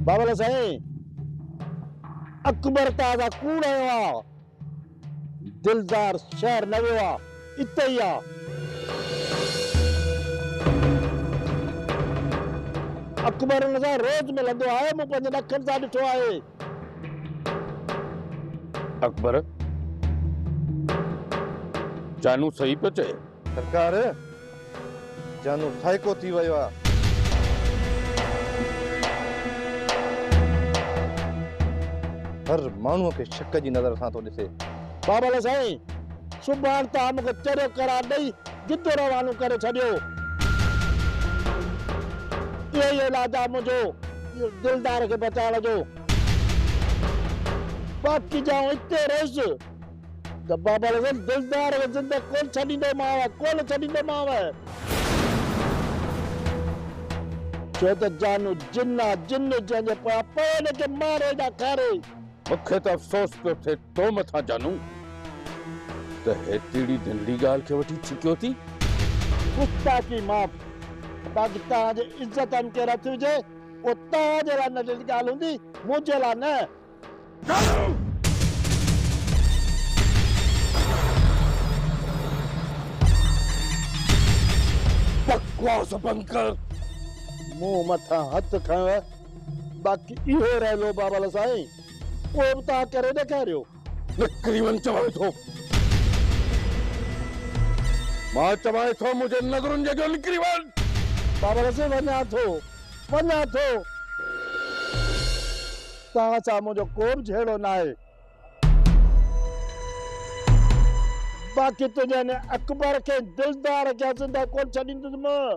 بابل سائين اڪبر تازا ڪوڙ آيو آ دلدار شهر نه ويو آ اتي ئي آ اڪبر ان سان روز ملندو آهي مون پنهنجن اکين سان ڏٺو آهي. اڪبر، جانو صحيح پيو چئي. سرڪار، جانو سائيڪو ٿي ويو آ. هر ماڻهوء کي شڪ جي نظر سان ٿو ڏسي. بابل سائين، سڀاڻ توهان مون کي چريو قرار ڏئي جدو روانو ڪري ڇڏيو. اهو ئي علاج آ منهنجو دلدار کي بچائڻ جو. باقي جيئن اتي رهيس ته بابا لڳس دلدار کي زندهه ڪونه ڇڏيندومانء ڪونه ڇڏيندومانء. ڇو ته جانو جن آ جن جنهن جي پويان پوي ان کي ماري يا کاري. مون کي ته افسوس پيو ٿئي تو مٿان جانو ته هيتري ڌنڙي ڳالهه کي وٺي ڇڪيو ٿي. گستاخي معاف. پاڪستان جي عزت ان کي رٿي هجي اهو توهان جي لاء ننڍڙي ڳالهه هوندي منهنجي لاء نه. جانو! بڪواس بند ڪر. مون مٿان هٿ کنيو باقي اهو رهيو بابل سائين اهو به توهان ڪري ڏيکاريو. نڪري وڃ چوان ٿو. مان چوان ٿو منهنجي نظرن جي اڳيان نڪري وڃ. بابل سائين وڃان ٿو وڃان ٿو. توهان سان منهنجو ڪو به جهيڙو ناهي. باقي تنهنجي ان اڪبر کي دلدار کي زنده ڪونه ڇڏيندس مان.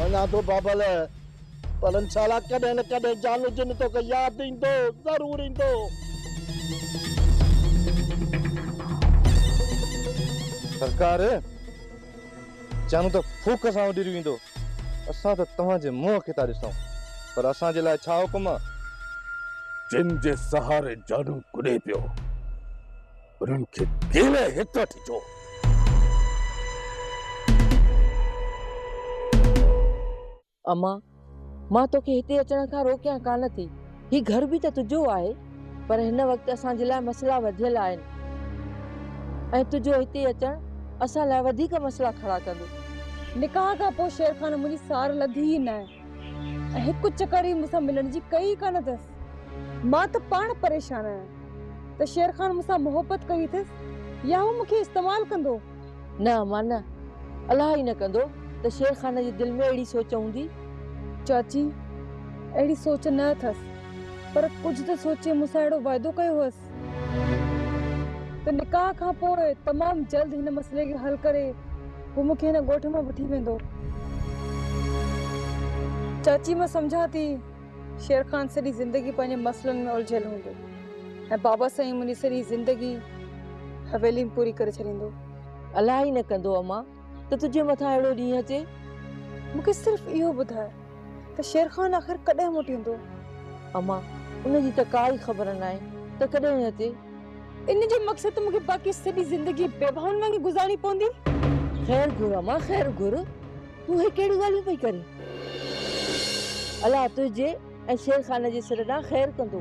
وڃان ٿو بابل، پر انشاء الله ڪڏهن نه ڪڏهن جانو جن توکي ياد ايندو، ضرور ايندو. سرڪار، جانو ته ڦوڪ سان اڏري ويندو، اسان ته توهان جي منهن کي ٿا ڏسون، پر اسان جي لاء ڇا حڪم؟ جن جي سهاري جانو ڪڏي پيو. انهن کي ڪيري هت وٺي ٿو؟ اما، مان توکي هتي اچڻ کان روڪيان ڪانه ٿي. هي گهر به ته تنهنجو آهي. پر هن وقت اسان جي لاء مسئلا وڌيل آهن ۽ تنهنجو هتي اچڻ اسان لاء وڌيڪ مسئلا کڙا ڪندو. نڪاح کان پوء شير خان منهنجي سار لڌي ئي نه. هڪ چڪر ئي مون سان ملڻ جي ڪئي ئي ڪانه اٿس. مان ته پاڻ پريشان آهيان ته شير خان مون سان محبت ڪئي اٿس يا هو مون کي استعمال ڪندو. نه امان نه. الائي نه ڪندو ته شير خان جي دل ۾ اهڙي سوچ هوندي. چاچي اهڙي سوچ نه اٿس پر ڪجهه ته سوچي مون سان اهڙو واعدو ڪيو هئس. ته نڪاح کان پوء تمام جلد هن مسئلي کي حل ڪري هو مون کي هن ڳوٺ مان وٺي ويندو. چاچي مان سمجهان ٿي شير خان سڄي زندگي پنهنجي مسئلن ۾ الجهيل هوندو ۽ بابا سائين منهنجي سڄي زندگي حويلي ۾ پوري ڪري ڇڏيندو. الائي نه ڪندو امان. ته تنهنجي مٿان اهڙو ڏينهن اچي. مون کي صرف اهو ٻڌاء ته شير خان آخر ڪڏهن موٽيندو؟ اما، ان جي ته ڪا ئي خبر ناهي ته ڪڏهن اچي. ان جو مقصد ته مون کي باقي سڄي زندگي بيواهن وانگي گذارڻي پوندي. خير گهر اما، خير گهر. تون هي ڪهڙيون ڳالهيون پئي ڪرين؟ الله تنهنجي. ۽ شير خان جي سر ڏانهن خير ڪندو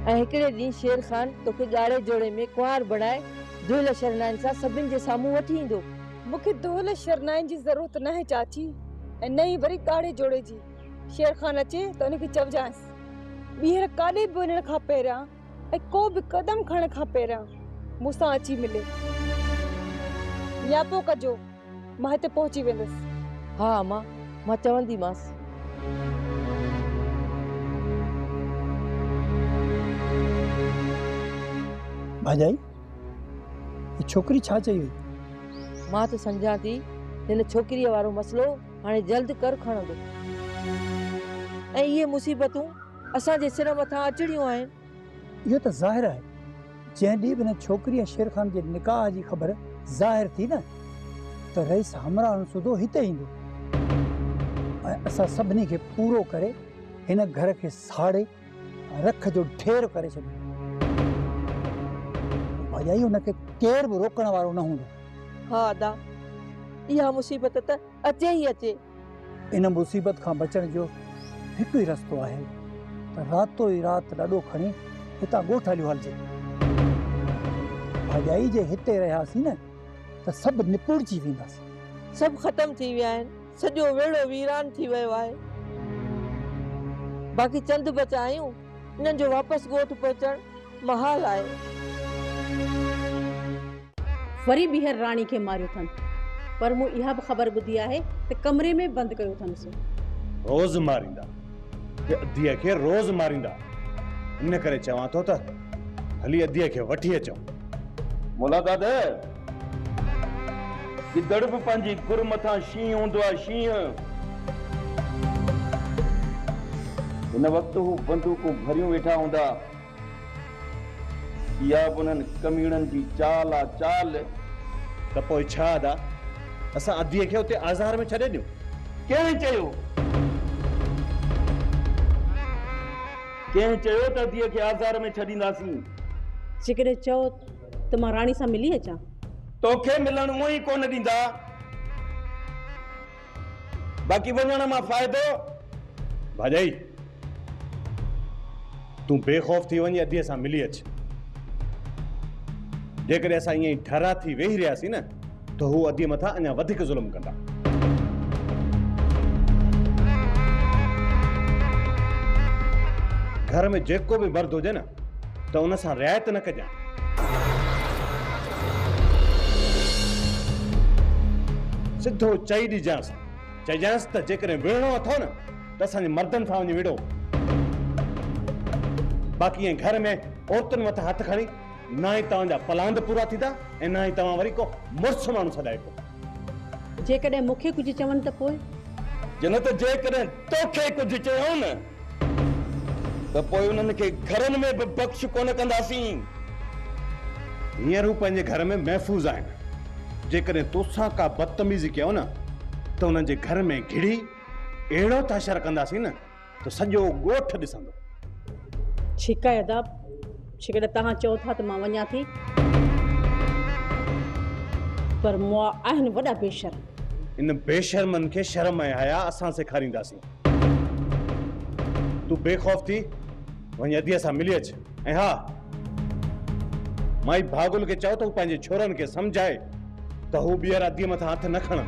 ۽ هڪڙي ڏينهن شير خان توکي ڳاڙهي جوڙي ۾ ڪنوار بڻائي دهل شرنائين سان سڀن جي سامهون وٺي ايندو. مون کي دهل شرنائين جي ضرورت ناهي چاچي ۽ نه ئي وري ڳاڙهي جوڙي جي. شير خان اچي ته ان کي چئجانس ٻيهر ڪاڏي به وڃڻ کان پهريان ۽ ڪو به قدم کڻڻ کان پهريان مون سان اچي ملي. نياپو ڪجو، مان هتي پهچي ويندس. ها اما، مان چونديمانس. ڀاڄائي، هي ڇوڪري ڇا چئي وئي؟ مان ته سمجهان ٿي، هن ڇوڪريء وارو مسئلو هاڻي جلد ڪر کڻندو ۽ اهي مصيبتون اسان جي سر مٿان اچڻيون آهن. اهو ته ظاهر آهي. جنهن ڏينهن به هن ڇوڪري ۽ شير خان جي نڪاح جي خبر ظاهر ٿي نه ته رئيس همراهن سوڌو هتي ايندو ۽ اسان سڀني کي پورو ڪري هن گهر کي ساڙي رک جو ڍير ڪري ڇڏيندو. ڀاڄائي هن کي ڪير به روڪڻ وارو نه هوندو. ها ادا، اها مصيبت ته اچي ئي اچي. ان مصيبت کان بچڻ جو هڪ ئي رستو آهي ته راتو ئي رات لڏو کڻي هتان ڳوٺ هليو هلجي. ڀاڄائي جي هتي رهياسين نه ته سڀ نپوڙجي وينداسين. سڀ ختم ٿي ويا آهن. سڄو ويڙهو ويران ٿي ويو آهي. باقي چند بچا آهيون. انهن جو واپس ڳوٺ پهچڻ محال آهي. وري ٻيهر راڻي کي ماريو اٿن. پر مون اها به خبر ٻڌي آهي ته ڪمري ۾ بند ڪيو اٿنس. روز ماريندا. اديء کي روز ماريندا. ان ڪري چوان ٿو ته هلي اديء کي وٺي اچون. مولاداد! گدڙ به پنهنجي گر مٿان شينهن هوندو آهي شينهن. هن وقت هو بندوقون ڀريون ويٺا هوندا. اها به انهن ڪميڻن جي چال آ چال. ته پوء ڇا ادا؟ اسان اديء کي اتي آزار ۾ ڇڏي ڏيون؟ ڪنهن چيو؟ ڪنهن چيو ته اديء کي آزار ۾ ڇڏينداسين؟ جيڪڏهن چئو ته مان راڻي سان ملي اچان. توکي ملڻ اونء ئي ڪونه ڏيندا، باقي وڃڻ مان فائدو. ڀاڄائي، تون بي خوف ٿي وڃي اديء سان ملي اچ. جيڪڏهن اسان ائين ئي ڍرا ٿي ويهي رهياسين نه ته هو اديء مٿان اڃا وڌيڪ ظلم ڪندا. گهر ۾ جيڪو به مرد هجي نه ته ان سان رعايت نه ڪجانء. سڌو چئي ڏجانس، چئجانس ته جيڪڏهن وڙهڻو اٿو نه ته اسان جي مردن سان وڃي وڙهو. باقي ائين گهر ۾ عورتن مٿان هٿ کڻي نه ئي توهان جا پلاند پورا ٿيندا ۽ نه ئي توهان وري ڪو مڙس ماڻهو سڏائبو. جيڪڏهن مون کي ڪجهه چون ته پوء؟ جنت ته جيڪڏهن توکي ڪجهه چيائون ته پوء انهن کي گهرن ۾ به بخش ڪونه ڪنداسين. هينئر هو پنهنجي گهر ۾ محفوظ آهن. جيڪڏهن توسان ڪا بدتميزي ڪيائون ته انهن جي گهر ۾ گهڙي اهڙو ٿا شر ڪنداسين ته سڄو ڳوٺ ڏسندو. ڇيڪ آهي ادا، جيڪڏهن توهان چئو ٿا ته مان وڃان ٿي. پر مئا آهن وڏا بي شرم. ان بي شرمن کي شرم ۽ حيا اسان سيکارينداسين. تون بي خوف ٿي وڃي اديء سان ملي اچ ۽ ها مائي ڀاڳل کي چئو ته هو پنهنجي ڇورن کي سمجهائي ته هو ٻيهر اديء مٿان هٿ نه کڻن.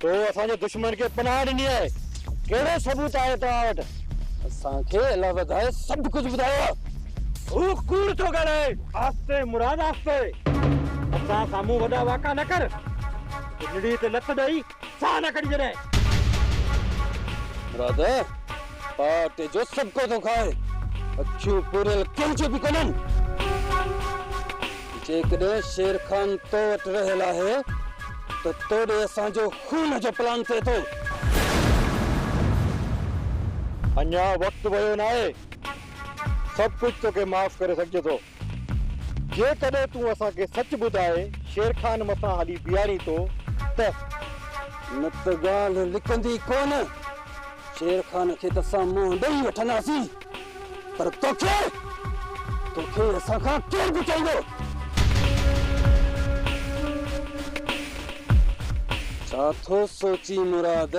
تو اسان جي دشمن کي پناهه ڏني آهي، ڪهڙو ثبوت آهي توهان وٽ؟ اسان کي الله وڌائي سڀ ڪجهه ٻڌايو آهي. هو ڪوڙ ٿو ڳالهائي. آهستي مراد آهستي. اسان سامهون وڏا واڪا نه ڪر. جنڙي تي لت ڏئي ساهه نه ڪڍ جڏهن. مراد پاٽي جو سڀڪو ٿو کائي. اکيون پوريل ڪنهن جون به ڪونهن. جيڪڏهن شير خان تو وٽ رهيل آهي ته تو ڏي اسان جو خون جو پلان ٿئي ٿو. اڃا وقت ويو ناهي. سڀ ڪجهه توکي معاف ڪري سگهجي ٿو. جيڪڏهن تون اسان کي سچ ٻڌائي شير خان مٿان هلي بيهارين ٿو ته. نه ته ڳالهه لڪندي ڪونه. شير خان کي ته اسان منهن ڏئي وٺنداسين. پر توکي توکي اسان کان ڪير بچائيندو؟ ڇا ٿو سوچين مراد؟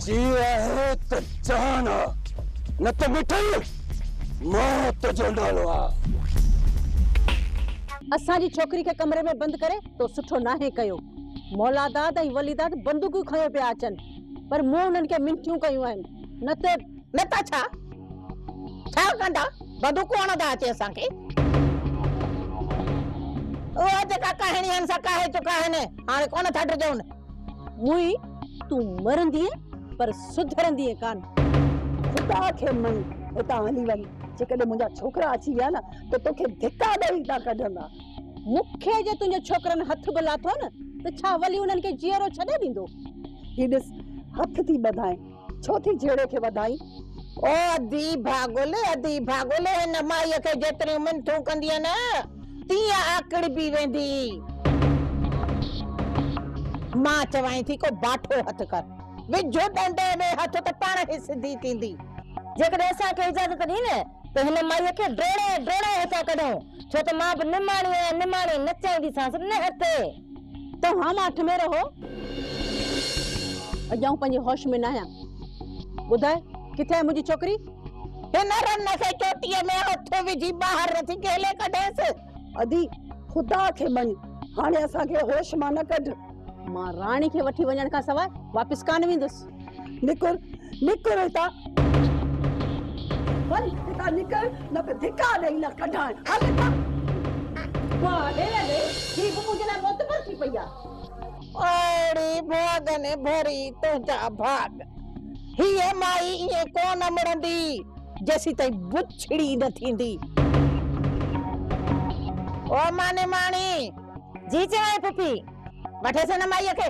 جي آهي ته جان آ نه ته مٺل موت جو نالو آ. اسان جي ڇوڪري کي ڪمري ۾ بند ڪري تو سٺو ناهي ڪيو. مولاداد ۽ وليداد بندوقيون کنيو پيا اچن پر مون انهن کي منٿيون ڪيون آهن. نه ته نه ته ڇا ڇا ڪندا بدوڪون هڻندا اچي اسان کي. اها جيڪا ڪهڻي هن سان ڪاهي چڪا آهن هاڻي ڪونه ٿا ڊڄون. موئي تون مرندينء پر سڌرندينء ڪانه. خدا کي مڃ هتان هلي وڃ جيڪڏهن منهنجا ڇوڪرا اچي ويا نه ته توکي ڌڪا ڏئي هتان ڪڍندا. مون کي جي تنهنجي ڇوڪرن هٿ به لاٿو نه ته ڇا ولي انهن کي جيئرو ڇڏي ڏيندو؟ هي ڏس، هٿ ٿي ٻڌائين، ڇو ٿي جهيڙي کي وڌائين؟ او ادي ڀاڳل، ادي ڀاڳل، هن مائيء کي جيتريون منٿون ڪندينء نه، تيئن آڪڙبي ويندي. مان چوانء ٿي ڪو باٺو هٿ ڪر، وجهه ڏنڊي ۾ هٿ ته پاڻ هي سڌي ٿيندي. جيڪڏهن اسان کي اجازت ڏين ته هن مائيء کي ڊوڙائي ڊوڙائي هتان ڪڍون. ڇو ته مان به نماڻي آهيان نماڻي نچائينديسانس نه هتي. توهان مان اٺ مير هو. اڄ آئون پنهنجي هوش ۾ ناهيان. ٻڌاء ڪٿي آهي منهنجي ڇوڪري؟ هن رن کي چوٽيء ۾ هٿ وجهي ٻاهر رٿي ڪهلي ڪڍيس. ادي خدا کي مڃ هاڻي اسان کي هوش مان نه ڪڍ. مان راڻي کي وٺي وڃڻ کان سواء واپس ڪانه ويندس. نڪر نڪر هتان وڃ هتان نڪر نه ته ڌڪا ڏئي نه ڪڍان هل هتان واهه ڀيڻ ڙي هي به منهنجي لاء معتبر ٿي پئي آ. اڙي ڀاڳ ني ڀري تنهنجا ڀاڳ هيء مائي ائين ڪونه مڙندي جيسيتائين بڇڙي نه ٿيندي. او ماني ماڻي جي چيائين پڦي وٺيس هن مائيء کي.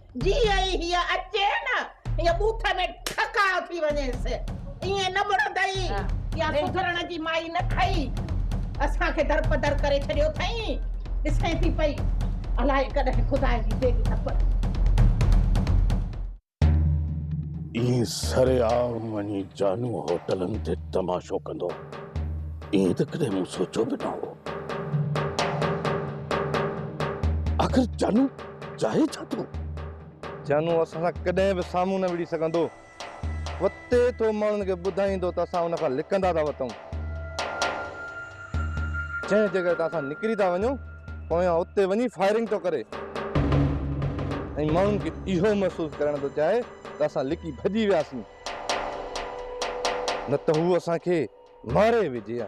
جيئن ئي هيء اچي نه، هيء ٻوٿ ۾ ٺڪاء ٿي وڃيس. ائين نه مڙندئي يا سڌرڻ جي مائي نه ٿئي. اسان کي درپدر ڪري ڇڏيو اٿئين. ڏسين ٿي پئي، الاء ڪڏهن خدا جي ديڳ نه پئي. ائين سري عام وڃي جانو هوٽلن تي تماشو ڪندو، ائين ته ڪڏهن مون سوچيو به نه هو. آخر جانو. چاهي ڇا ٿو؟ جانو اسان سان ڪڏهن به سامهون نه وڙهي سگهندو. وتي ٿو ماڻهن کي ٻڌائيندو ته اسان ان کان لڪندا ٿا وتون. جنهن جي ڪري ته اسان نڪري ٿا وڃون، پويان اتي وڃي فائرنگ ٿو ڪري ۽ ماڻهن کي اهو محسوس ڪرائڻ ٿو چاهي ته اسان لڪي ڀڄي وياسين، نه ته هو اسان کي ماري وجهي ها.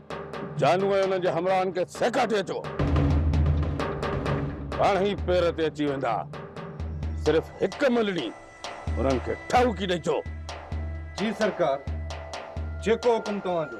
جانو ۽ انهن جي همراهن کي سيڪاٽي اچو. پاڻ ئي پير تي اچي ويندا. صرف هڪ ملڻي انهن کي ٺاهوڪي ڏئي اچو. جي سرڪار، جيڪو حڪم توهان جو.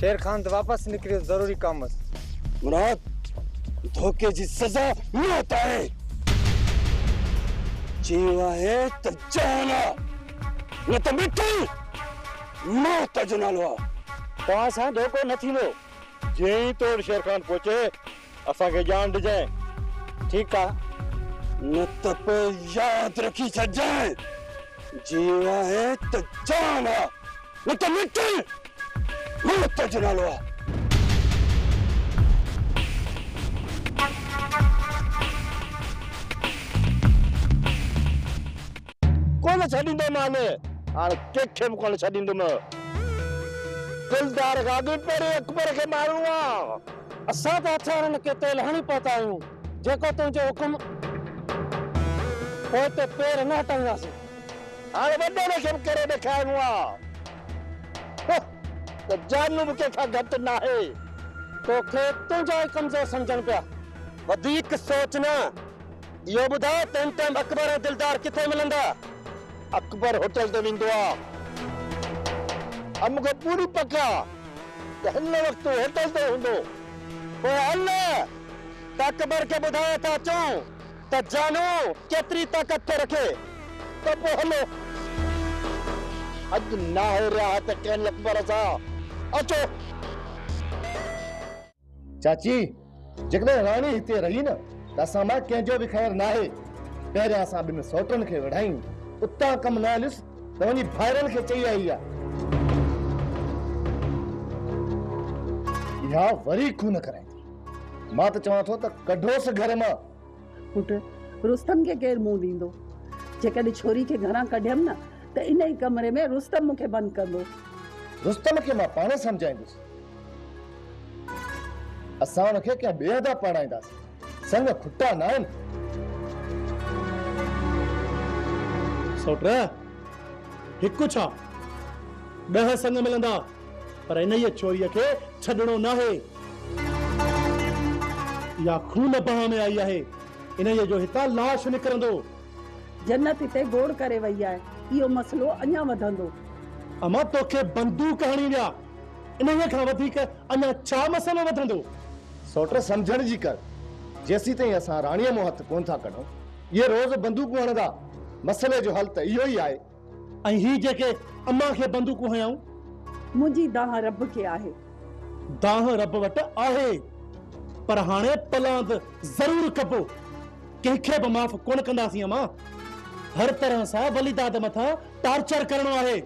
شير خان ته واپس نڪريو ضروري ڪم هوس. مراد! ڌوڪي جي سزا موت آهي. جيئون آهي ته جهان آ، نه ته مٽي! موت جو نالو آ. توهان سان ڌوڪو نه ٿيندو. جيئن ئي توڙ شير خان پهچي. اسان کي ڄاڻ ڏجانء، ٺيڪ آ. نه ته پوء ياد رکي ڇڏجانء، جيئن آهين ته جان آ، نه ته مٽ! موت جو نالو آ. ڪونه ڇڏيندو مان، هاڻ ڪنهن کي به ڪونه ڇڏيندم. دلدار کان اڳ پهرين اڪبر کي مارڻو آ. اسان ته هٿيارن کي تيل هڻي پهتا آهيون، جيڪو تنهنجو حڪم. پوء اتي پير نه هٽائينداسين. هاڻي وڏيري کي به ڪري ڏيکارڻو آ هه ته جانو به ڪنهن کان گهٽ ناهي. توکي تنهنجا ئي ڪمزور سمجهن پيا. وڌيڪ سوچ نه. اهو ٻڌاء تنهن ٽائيم اڪبر ۽ دلدار ڪٿي ملندا؟ اڪبر هوٽل تي ويندو آ. ۽ مون کي پوري پڪ آ ته هن وقت هو هوٽل تي هوندو. پوء هل ته اڪبر کي ٻڌايان ٿا اچون ته جانو ڪيتري طاقت ٿو رکي. ته پوء هلو. اڄ ناهي رياحت ڪنهن اڪبر سان. اچو. چاچي، جيڪڏهن راڻي هتي رهي نه ته اسان مان ڪنهن جو به خير ناهي. پهريان اسان ٻن سوٽن کي وڙهايون. اتان ڪم نه هليس ته وڃي ڀائرن کي چئي آئي آ. اها وري ڪونه ڪرائيندي. مان ته چوان ٿو ته ڪڍوس گهر مان. پٽ، رستم کي ڪير منهن ڏيندو؟ جيڪڏهن ڇوري کي گهران ڪڍيم نه ته ان ئي ڪمري ۾ رستم مون کي بند ڪندو. رستم کي مان پاڻ سمجهائيندس. اسان هن کي ڪنهن ٻئي هنڌان پرڻائينداسين. سڱ کٽا ناهن. سؤٽ، هڪ ڇا، ڏهه سڱ ملندا، پر انهيء ڇوريء کي ڇڏڻو ناهي. اها خون بهه ۾ آئي آهي. انهيء جو هتان لاش نڪرندو. جنت هتي گوڙ ڪري ويئي آهي. اهو مسئلو اڃا وڌندو. امان توکي بندوق هڻي ويا. انهيء کان وڌيڪ اڃا ڇا مسئلو وڌندو؟ سوٽر سمجهڻ جي ڪر، جيسيتائين اسان راڻيء مون هٿ ڪونه ٿا ڪڍون، اهي روز بندوقون هڻندا، مسئلي جو حل ته اهو ئي آهي. ۽ هي جيڪي امان کي بندوقون هنيائون؟ منهنجي دانهن رب کي آهي. دانهن رب وٽ آهي، پر هاڻي پلاند ضرور ڪبو. ڪنهن کي به معاف ڪونه ڪنداسين امان. هر طرح سان وليداد مٿان ٽارچر ڪرڻو آهي.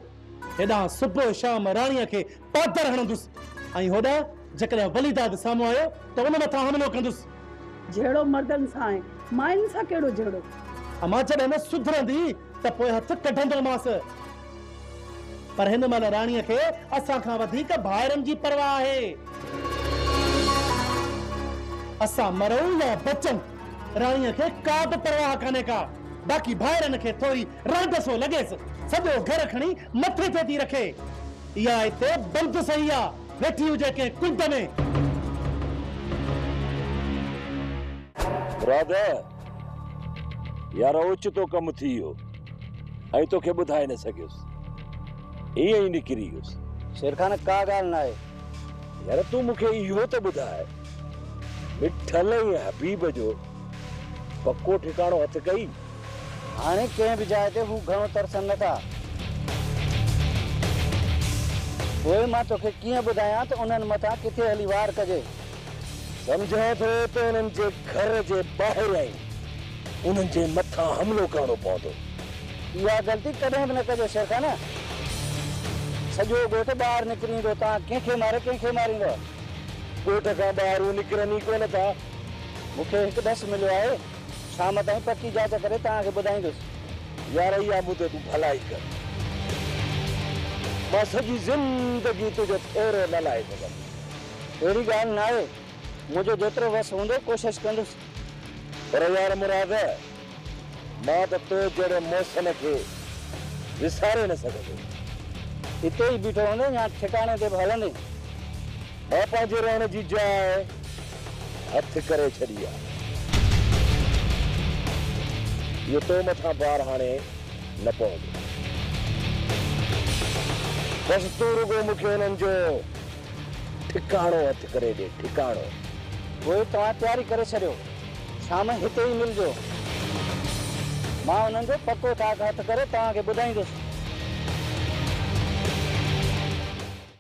هيڏانهن صبح شام راڻيء کي پاتر هڻندس ۽ هوڏانهن جيڪڏهن وليداد سامهون آيو ته ان مٿان حملو ڪندس. جهيڙو مردن سان ۽ ماين سان ڪهڙو جهيڙو؟ امان جڏهن نه سڌرندي ته پوء هٿ ڪڍندومانس. پر هن مهل راڻيء کي اسان کان وڌيڪ ڀائرن جي پرواهه آهي. اسان مرون يا بچون، راڻيء کي ڪا به پرواهه ڪانهي ڪا. باقي ڀائرن کي ٿوري رعب سو لڳيس سڄو گهر کڻي مٿي تي ٿي رکي. اها اتي بند سهي آ ويٺي هجي ڪنهن ڪنڊ ۾. رعب، يار اوچتو ڪم ٿي ويو ۽ توکي ٻڌائي نه سگهيس ائين ئي نڪري ويس. شيرخان، ڪا ڳالهه ناهي. يار تون مون کي اهو ته ٻڌاء مٺل ۽ حبيب جو پڪو ٺڪاڻو هٿ ڪئي؟ هاڻي ڪنهن به جاء تي هو گهڻو ترسن نه ٿا. پوء مان توکي ڪيئن ٻڌايان ته انهن مٿان ڪٿي هلي وار ڪجي. سمجهان ٿو ته انهن جي گهر جي ٻاهريائين انهن جي مٿان حملو ڪرڻو پوندو. اها غلطي ڪڏهن به نه ڪجو شيرخانه. سڄو ڳوٺ ٻاهر نڪري ايندو. توهان ڪنهن کي ماري ڪنهن کي ماريندؤ. ڳوٺ کان ٻاهر هو نڪرن ئي ڪونه ٿا. مون کي هڪ ڏس مليو آهي. شام تائين پڪي جاچ ڪري توهان کي ٻڌائيندس. يار اهي آبو تي تون ڀلائي ڪر. مان سڄي زندگي تنهنجو ڦيرو نه لاهي سگهندس. اهڙي ڳالهه ناهي. منهنجو جيترو وس هوندو ڪوشش ڪندس. پر يار مراد مان ته تو جهڙي محسن کي وساري نه سگهندس. اتي ئي بيٺو هوندين يا ٺڪاڻي تي به هلندين. مان پنهنجي رهڻ جي جاء هٿ ڪري ڇڏي آ. اهو تو مٿان بار هاڻي نه پوندو. بس تون رڳو مون کي انهن جو ٺڪاڻو هٿ ڪري ڏي، ٺڪاڻو. پوء توهان تياري ڪري ڇڏيو. شام هتي ئي ملجو. مان انهن جو پڪو ٺاڪ هٿ ڪري توهان کي ٻڌائيندس.